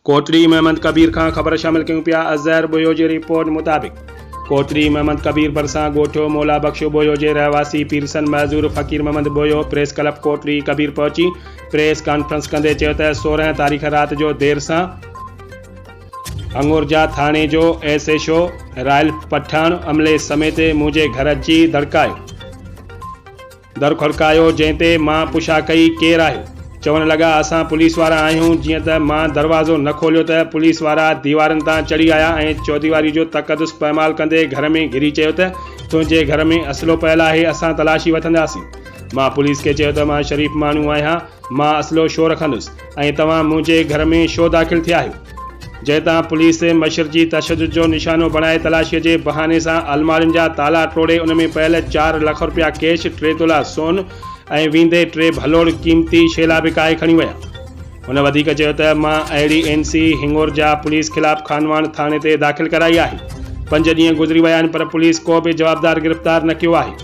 ڪوٽڙي محمد ڪبير کان خبر شامل ڪيون پيا اظهر ٻوهيو جي رپورٽ مطابق ڪوٽڙي محمد ڪبير ڀرسان ڳوٺ مولا بخش ٻوهيو جي رهواسي پيرسن معذور فقير محمد ٻوهيو پريس ڪلب ڪوٽڙي ڪبير پهچي پريس ڪانفرنس ڪندي چيو ته سورهن تاريخ رات جو دير سان انگورجا ٿاڻي جو ايس ايچ او رائل پٺاڻ عملي سميت منهنجي گهر اچي دڙڪايو در کڙڪايو، جنهن تي مان پڇا ڪئي، ڪير آهيو؟ چوڻ لڳا، اسان پوليس وارا آهيون. جيئن ته مان دروازو نه کوليو ته پوليس وارا ديوارن تان چڙهي آيا ۽ چوديواري جو تقدس پائمال ڪندي گهر ۾ گهري چيو ته تنهنجي گهر ۾ اسلحو پيل آهي، اسان تلاشي وٺنداسين. مان پوليس کي چيو ته مان شريف ماڻهو آهيان، مان اسلحو ڇو رکندس؟ ۽ توهان منهنجي گهر ۾ شو داخل ٿيا آهيو؟ جنهن تان پوليس مشر جي تشدد جو نشانو بڻائي تلاشيء جي بهاني سان المارين جا تالا ٽوڙي ان ۾ پيل چار لک رپيا ڪيش، ٽي تولا سون ۽ ويندي ٽي ڀلوڙ قيمتي شيلا وڪائي کڻي ويا. هن وڌيڪ چيو ته مان اهڙي اين سي هڱور جا پوليس خلاف خانواڻ ٿاڻي تي داخل ڪرائي آهي. پنج ڏينهن گذري ويا آهن پر پوليس ڪو به جوابدار گرفتار نه ڪيو آهي.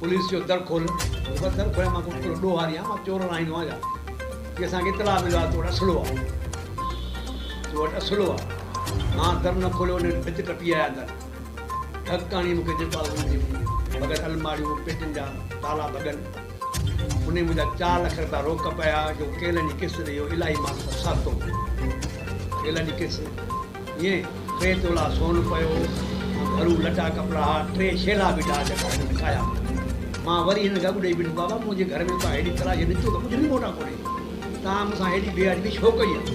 پوليس چيو در کول. مون کان در کولائي مان ڪو ڪهڙو ڏوهاري آهيان مان چور ناهيندو آهيان ڇا جي اسان کي اطلاع مليو آهي تو وٽ اسلحو آهي تو وٽ اسلحو آهي مان در نه کوليو ان وٽ ڀت ٽپي آيا در ڍڪ هڻي مون کي جيڪو آهي سو ڏي بغير الماڙيون پيٽين جا تالا ڀڳن انهي منهنجا چار لک رپيا روڪ پيا جو ڪيلن جي قسط ڏي اهو الاهي مان ساٿ ساٿ ٿو ڪيلن جي قسط جيئن ٽي تولا سون پيو هو ۽ ڀرو لٽا ڪپڙا ها ٽي شيلا به ڊاج کان هن لڪايا هئا. مان وري هن کي اڳ ڏيئي بيٺس بابا منهنجي گهر ۾ توهان هيڏي تلاشي نڪتو ته ڪجهه به مون وٽان ڪونهي. توهان مون سان هيڏي بي ادبي ڇو ڪئي اٿو.